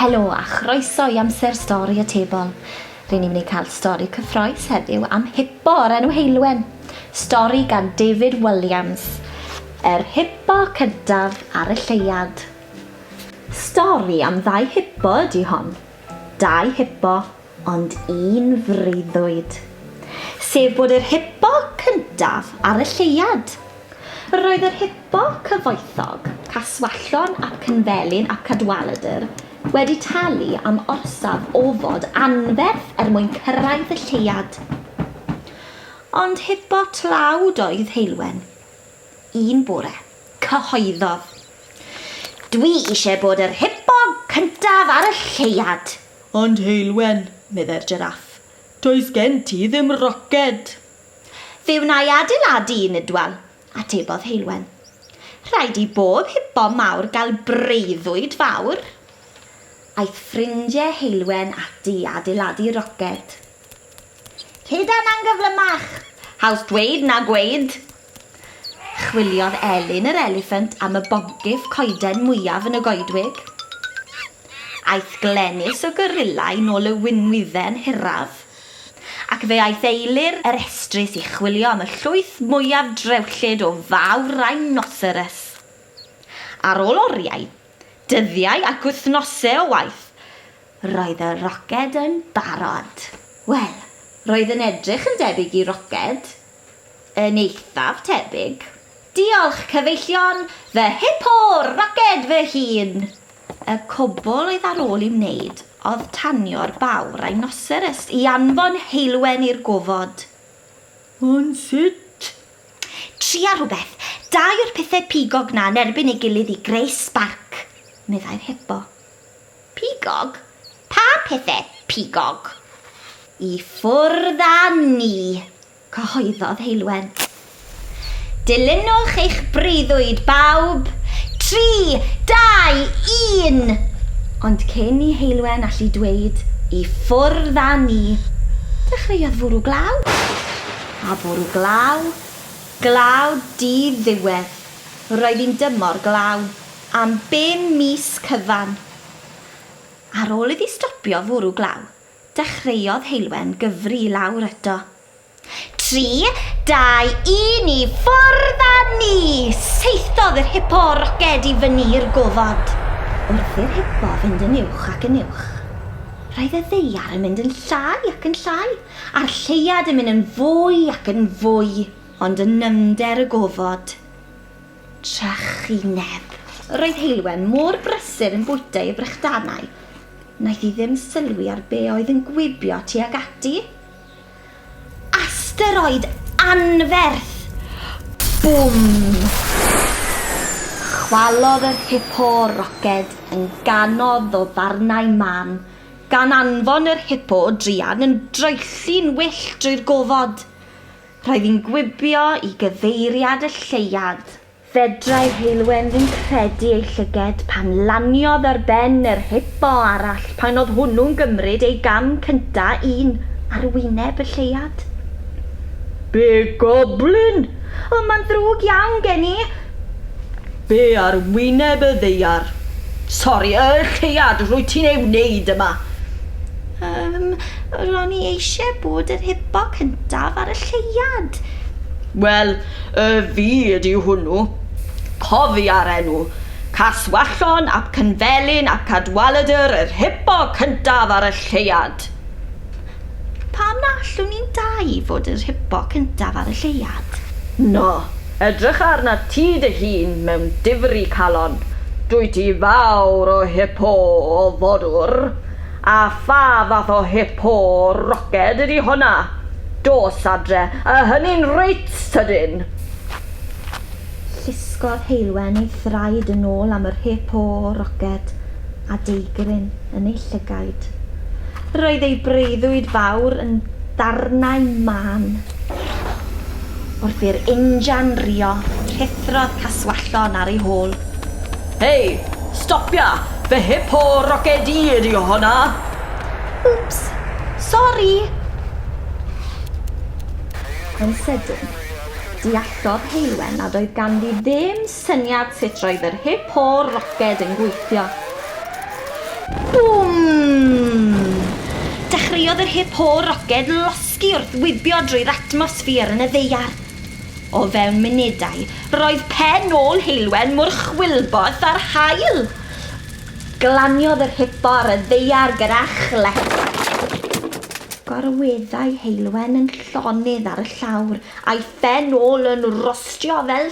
Helo a chroeso i Amser Stori y Tebol. Ry'n ni'n mynd i cael stori cyffroes heddiw am hipo o'r enw Heulwen. Stori gan David Williams. Yr hipo cyntaf ar y lleuad. Stori am ddau hipo ydy hon. Dau hipo ond un freuddwyd, sef bod yr hypo cyntaf ar y lleuad. Roedd yr hypo cyfoethog, Caswallon ap Cynfelyn ap Cadwaladr, wedi talu am orsaf ofod anferth er mwyn cyrraedd y lleuad. Ond hypo tlawd oedd Heulwen. Un bore, cyhoeddodd, Dwi eisiau bod yr hypo cyntaf ar y lleuad! Ond Heulwen, meddai'r Jeraff, does gen ti ddim roced! Fe wna i adeiladu un, Idwal, atebodd Heulwen. Rhaid i bob hipo mawr gael breuddwyd fawr. Aeth ffrindiau Heulwen ati i adeiladu roced. Tyd a na'n gyflymach! Haws dweud na gweud! Chwiliodd Elin yr eliffant am y boncyff coeden mwyaf yn y goedwig. Aeth Glenys y gorilla i nôl y winwydden hiraf, ac fe aeth Eilir yr estrys i chwilio am y llwyth mwyaf drewllyd o fawr rhinoceros. Ar ôl oriau, dyddiau ac wythnose o waith, Roedd y roced yn barod. Wel, roedd yn edrych yn debyg i roced. Yn eithaf tebyg. Diolch, cyfeillion! Fy Hippo roced fy hun! Y cwbl oedd ar ôl i'w wneud oedd tanio'r baw rhinoceros i anfon heulwen i'r gofod. Ond sut? Tria rhywbeth. Dau o'r pethau pigog 'na yn erbyn ei gilydd i greu sbarc, meddai'r Hippo. Pigog? Pa pethe pigog? I ffwrdd â ni! cyhoeddodd Heulwen. Dilynwch eich breuddwyd, bawb! Tri, dau, un! Ond cyn i Heulwen allu dweud 'i ffwrdd â ni', dechreuodd fwrw glaw. A bwrw glaw, glaw di-ddiwedd. Roedd hi'n dymor glaw. am bum mis cyfan. Ar ôl iddi stopio fwrw glaw, dechreuodd Heulwen gyfri i lawr eto. Tri, dau, un, i ffwrdd â ni! Saethodd yr hipo roced i fyny i'r gofod. Wrth i'r hipo fynd yn uwch ac yn uwch, roedd y ddaear yn mynd yn llai ac yn llai, a'r lleuad yn mynd yn fwy ac yn fwy, ond yn nyfnder y gofod. trychineb. Yr oedd Heulwen mor brysur yn bwyta ei frychdanau, wnaeth hi ddim sylwi ar be oedd yn gwibio tuag ati. Asteroid anferth! Bwm! Chwalodd yr hipo roced yn ganodd o ddarnau mân, gan anfon yr hipo druan yn draethu'n wyllt drwy'r gofod. Rhaid i'n gwibio i gyfeiriad y lleuad. Fedrau Heulwen ddim credu ei llyged pan laniodd ar ben yr hipo arall pan oedd hwnnw'n gymryd ei gam cynta un ar wyneb y lleuad. Big Goblin! Ond mae'n ddrwg iawn gen i! Be ar wyneb y ddaear? Sori, y lleuad rwyt ti'n ei wneud yma? Yym, ro'n i eisiau bod yr hipo cyntaf ar y lleuad. Wel, y fi ydi hwnnw. Cofia'r enw, Caswallon ap Cynfelin ap Cadwaladr yr hipo cyntaf ar y lleuad. Pam na allwn ni'n dau fod yr hypo cyntaf ar y lleuad? No, edrych arna ti dy hun mewn difri calon, dwyt ti fawr o hypo o fodwr, a pha fath o hypo roced ydi honna? Dos adre, a hynny'n reit sydyn! Llusgodd Heulwen ei thraed yn ôl am yr hypo roced. a deigryn yn ei llygaid. Roedd ei breuddwyd fawr yn darnau mân. Wrth i'r injan rio, rhuthrodd Caswallon ar ei hôl. Hei! Stopia! Fy hipo roced i ydi honna! Wps! Sori! Yn sydyn, deallodd Heulwen nad oedd ganddi ddim Syniad sut roedd yr hip o'r roced yn gweithio. Bwm! Dechreuodd yr hip o'r roced losgi wrth wibio drwy'r atmosffer yn y ddaear. O fewn munudau, roedd pen ôl Heulwen mor chwilboeth â'r haul! Glaniodd yr hip o'r y ddaear gyda chlec. Gorweddai Heulwen yn llonydd ar y llawr, a'i phen ôl yn rostio fel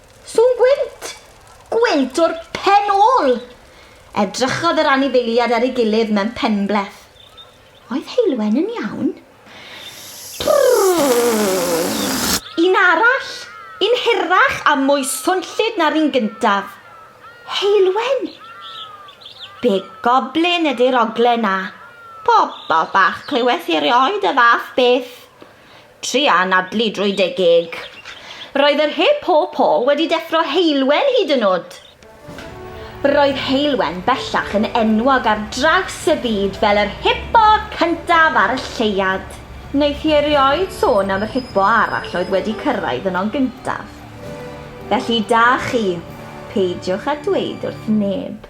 Sŵn gwynt! Gwynt o'r pen ôl! Edrychodd yr anifeiliad ar ei gilydd mewn penbleth. Oedd Heulwen yn iawn? Un arall! Un hirach a mwy swnllyd na'r un gyntaf. Heulwen! Be goblin ydy'r oglen 'na? Pobol bach clyweth hi erioed y fath beth. Try anadlu drwy dy geg. Roedd yr he po po wedi deffro Heulwen hyd yn o'd! Roedd Heulwen bellach yn enwog ar draws y byd fel yr hipo cyntaf ar y lleuad. Wnaeth hi erioed sôn am yr hipo arall oedd wedi cyrraedd yno'n gyntaf. Felly da chi, peidiwch â dweud wrth neb.